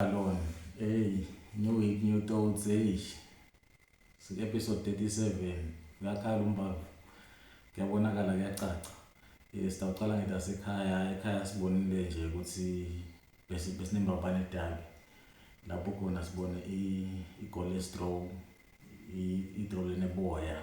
Alone. Hey, new week, new thoughts. Hey. Si episode 37. Ngakhala umbavu. Kuyabonakala kuyacaca. Eh sitawuqala ngetasekhaya. Ekhaya sibonile nje ukuthi bese besinembabane edabi. Lapho khona sibone i cholesterol, i idrole neboya.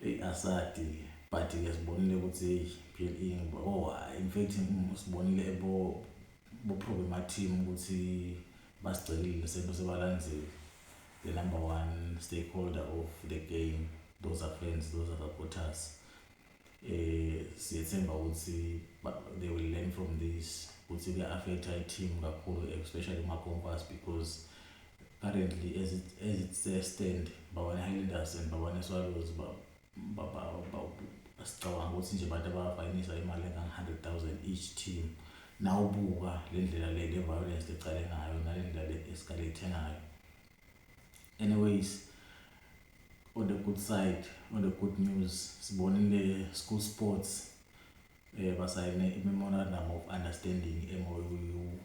Eyi asadi ke but ke sibonile ukuthi eyi PLE ngiba oh hayi in fact mm, sibonile ebo bo problem team ukuthi basigcelile sento sebalandzile the number one stakeholder of the game those are friends those are supporters eh siyethemba ukuthi they will learn from this ukuthi kuya affect i team kakhulu especially ma compass because currently ezisestand babane Highlanders and babane Swallows sicabanga ukuthi nje abantu abafayinisa imali engange-hundred thousand each team nawubuka le ndlela le le violence lecale ngayo nale ndlela le esikale ithenga ngayo anyways on the good side on the good news sibonile school sports um basayine i-memorandum of understanding emoyu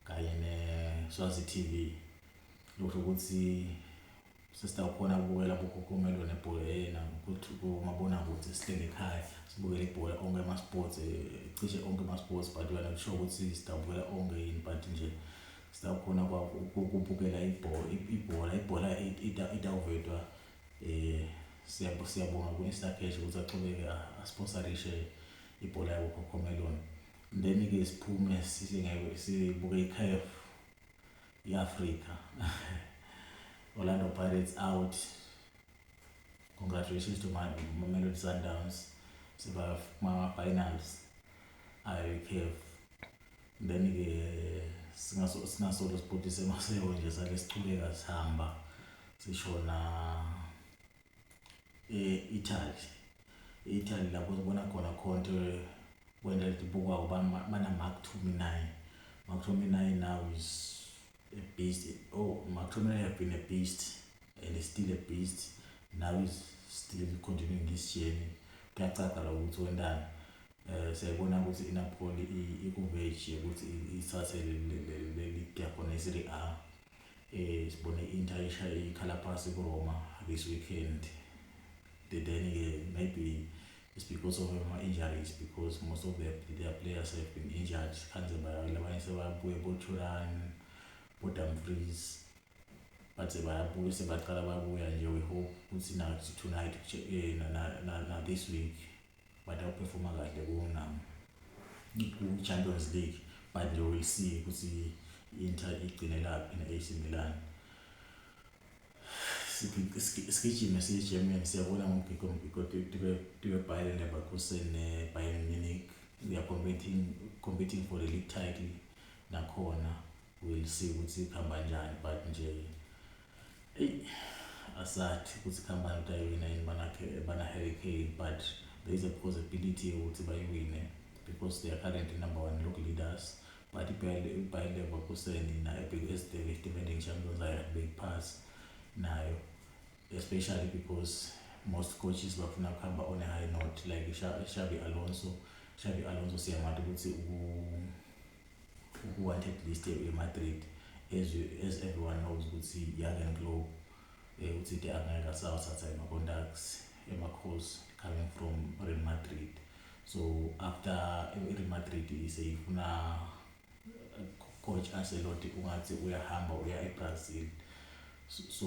kanye neSwazi TV lokusho ukuthi sesitawukhona ukubukela kukhokhomelwe nebhola yena kumabonakude sihleli ekhaya sibukele ibhola onke ama-sports eh, cishe onke ama-sports but wena kusho ukuthi sitawubukela onke yini but nje sitawukhona ukubukela ibhola ibhola itawuvetwa um siyabonga ku-instacash ukuthi axhubeke asponsarishe ibhola yakukhokhomeloni Then ke siphume sithi ngeke sibuke iCAF yeAfrica. Orlando Pirates out. Congratulations to my Mamelodi Sundowns. Siba ma finals ayo iCAF. Then ke singaso singasolo sibhutise maseko nje sake sichubeka sihamba sishona e-Italy e-Italy lapho sibona khona khonto kwenta libukwa uba bana-mark to me nine mark to me nine now is a beast oh mark to me nine have been a beast and is still a beast now is still continuing this journey kuyacaca la ukuthi wentani um siyayibona ukuthi inapoli ikuveji yokuthi isase leli giya khona i-serie a Eh sibone Inter ishaye ikhala phansi kuRoma this weekend. Then ke maybe it's because of ama injuries because most of their, their players have been injured. Kanze bayawela abanye sebabuye boThuran, boDumfries. Bathi bayabuya sebaqala babuya nje we hope ukuthi na tonight eh na, na, na, na this week but awuperforma kahle kuwona ku-champions league but nje will see ukuthi i-inter igcinelaphi ne-ac milan isigijimi siyi-german siyabona ngomgigqo mgigqo tube bayern leverkusen ne-bayern munich they are competing, competing for the league title nakhona we'll see ukuthi ikhamba njani but nje eyi asathi ukuthi ikhambani utayowina yini banakhe bana-harry kane but there is a possibility yokuthi bayiwine because they are currently number one log leaders but ibayer leverkusen nayo esibheke defending champions ayakhe beyiphasi nayo especially because most coaches bafuna kuhamba on a high note like shabi alonso shabi alonso siyamati ukuthi Ku-wanted list ye-Real Madrid as, as everyone knows ukuthi Jurgen Klopp eh, uthi de angeke asawathatha ama-contacts emakhosi coming from Real Madrid so after i-Real Madrid seyifuna eh, coach Ancelotti ungathi uyahamba uya e-Brazil so, so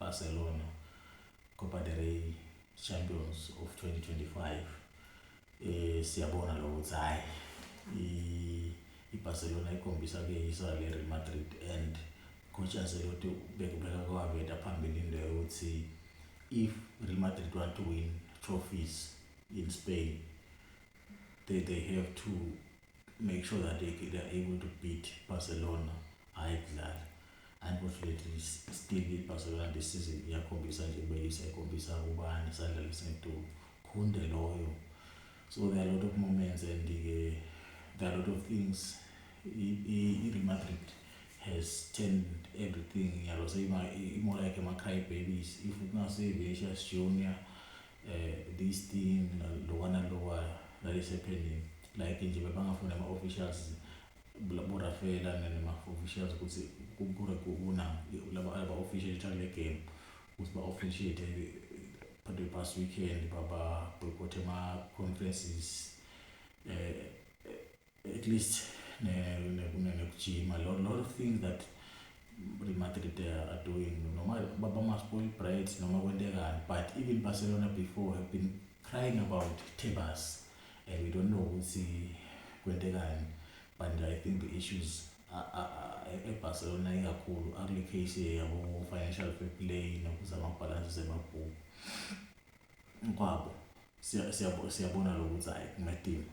Barcelona Copa del Rey Champions of 2025 eh siyabona lo ukuthi hayi iBarcelona ikhombisa ke yisa le Real Madrid and coach Ancelotti bekubeka kwaveta phambili into yokuthi if Real Madrid want to win trophies in Spain they they have to make sure that they, they are able to beat Barcelona hhayi kudlala unfortunately still i-barcelona this season iyakhombisa nje beyisa ikhombisa ubani sadlala isentuku khunde loyo so there are a lot of moments and uh, there are a lot of things i-real madrid has turned everything yalo so imola yakhe ama-cry babies if kungasevicious junior eh this thing lokwana lokwana lalisephenini like nje bebangafuna ama officials labo Rafela nama officials ukuthi kubure kubona laba aba official try le game ukuthi ba officiate eh, but the past weekend baba boycott ama conferences eh, eh at least nekujima ne, ne, ne, ne, lot of things that Real Madrid are doing noma bama-spoil bright noma kwentekani but even barcelona before have been crying about tebas and we don't know ukuthi kwentekani but i think the issues ebarcelona ikakhulu akule case yabo-financial fair play nokuzama bhalansi emabhuku kwabo siyabona lo ukuthi hhayi kungadinga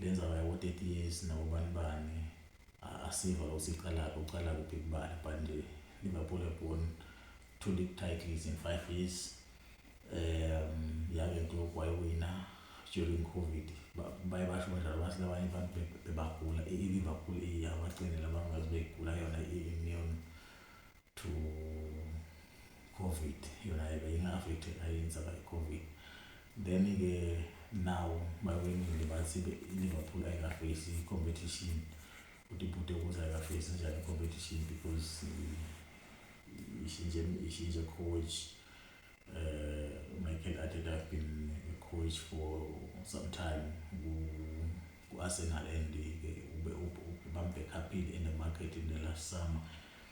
Le ndzaba yabo 30 years nabo bani bani asiva ukuthi iqalaphi uqala kuphi kubala but nje Liverpool have won two league titles in 5 years um yake Klopp wayiwina during covid baye basho badlala bathi labanye abantu bebagula i-Liverpool iyabacinela bangazi beyigula yona i-immune to covid yona yake ingafethi ayenza by covid then ke now bawenile bathi liverpool ayikafesi competition ukuthi ibhude ukuthi ayikafesi njani competition because ishintshe ishintshe coach uh, michael arteta have been a coach for some time ku-arsenal and ke ube bambekhaphile in the market in the last summer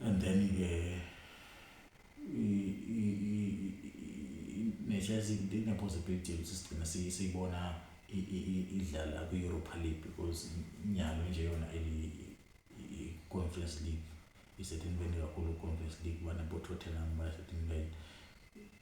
and then ke nature izinto ine possibility ukuthi sigcina siyibona idlala kwi Europa League because inyalo nje yona eli Conference League isethenbeni kakhulu Conference League bana bo Tottenham basethenbeni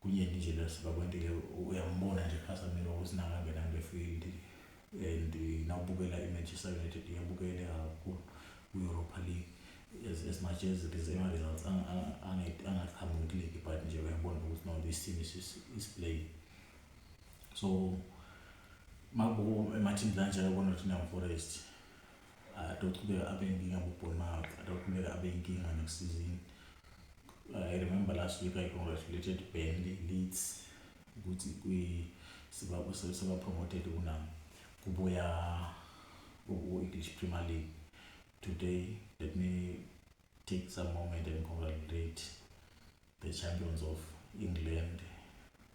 kunyenti nje lo sibakwentile uyambona nje kucasamile ukuthi nakangena kule field and nawubukela i-manchester united iyabukele kakhulu ku-europa league as, as much as it is ama-results angaqhamuki kuligi but nje uyabona ukuthi no this team is, is, is playing so makubo emathini kanjalo bona thina forest adochubeka abe inkinga bobournout adochubeka abe inkinga next season I remember last week I congratulated Bendy Leeds ukuthi kwi seba promoted kunami kubuya ku English Premier League today let me take some moment and congratulate The champions of England,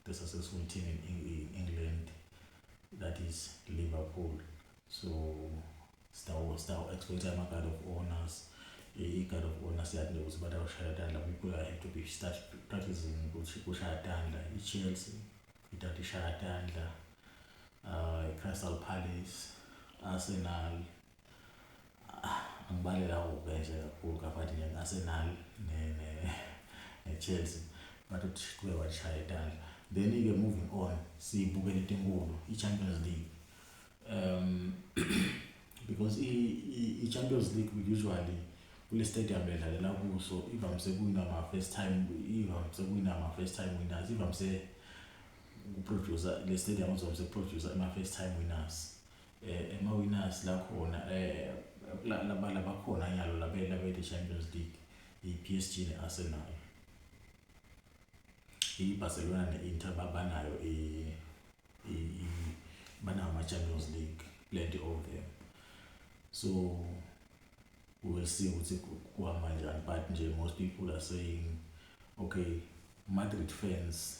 the successful team in England, that is Liverpool. So sitawexploita ama-guard of honors i-guard of honor siyadinga ukuthi abantu abashaya tandla people are have to be start practicing ukuthi kushaya tandla i-chelsea ithatha ishaya tandla um i-crystal palace arsenal Ah, angibalela kubi nje kakhulu kabathi nje ngi-Arsenal ne-Chelsea but uthi kuke washaya itandla then-ke moving on siyibukele into enkulu i-champions league um because i-champions league usually kule stadium edlalela kuso ivamise kuwina ma-first time ivamise kuwina ma-first time winners ivamise ukuproducer le stadium izobe sekuproducer ama-first time winners eh, emawinners la khona eh, labala bakhona nyalo labelabethe champions league i-p s g ne-arsenal i-barcelona ne-inter babanayo banawo ama-champions league plenty of them so we'll see ukuthi kuhamba njani but nje most people are saying okay madrid fans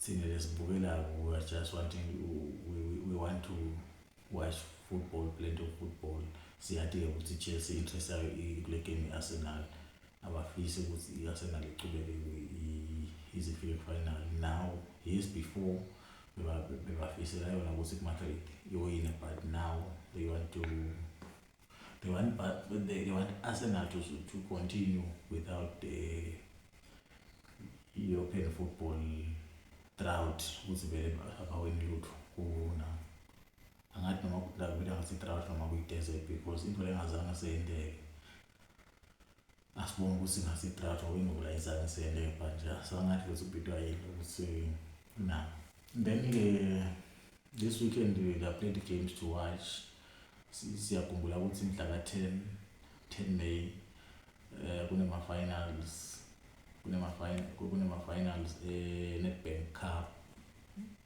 thina lesibukelayo we are just wanting we, we, we want to watch football plenty of football siyati-ke ukuthi i-chelsea interest yayo kule game i-arsenal abafisi ukuthi i-arsenal iqhubeke ize ifike kufinal now years before bebafisela yona ukuthi kumadrid iyoyina but now they want to they want but they, they want Arsenal to to continue without the European football drought ukuthi vele abawini lutho kuna angathi noma kudlala vele ngathi drought noma kuyi desert because into lengazange seyindeke Asibonge ukuthi ngasedrato uyingulayisa ngiselebha nje asangathi ukuthi ubhidwa yini ukuthi na then ke this weekend we are played games to watch siyakhumbula ukuthi mhla ka-10 10 may um kunema-finals kunema-finals e-netbank cup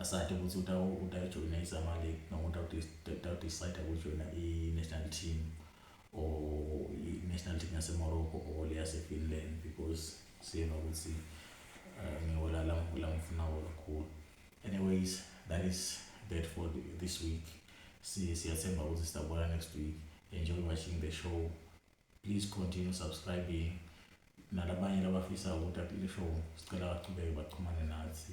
Asade ukuthi utayijoyina izama league noma utawudecide ukujoyina i-national team or i-national team yasemorocco or le yasefinland because siyena ukuthi eh, ngiwola lamfunawo kakhulu anyways that is that for this week siyathemba ukuthi sitabona next week enjoy watching the show please continue subscribing nalabanye labafisa ukuthi le show sicela bachubeke baxhumane nathi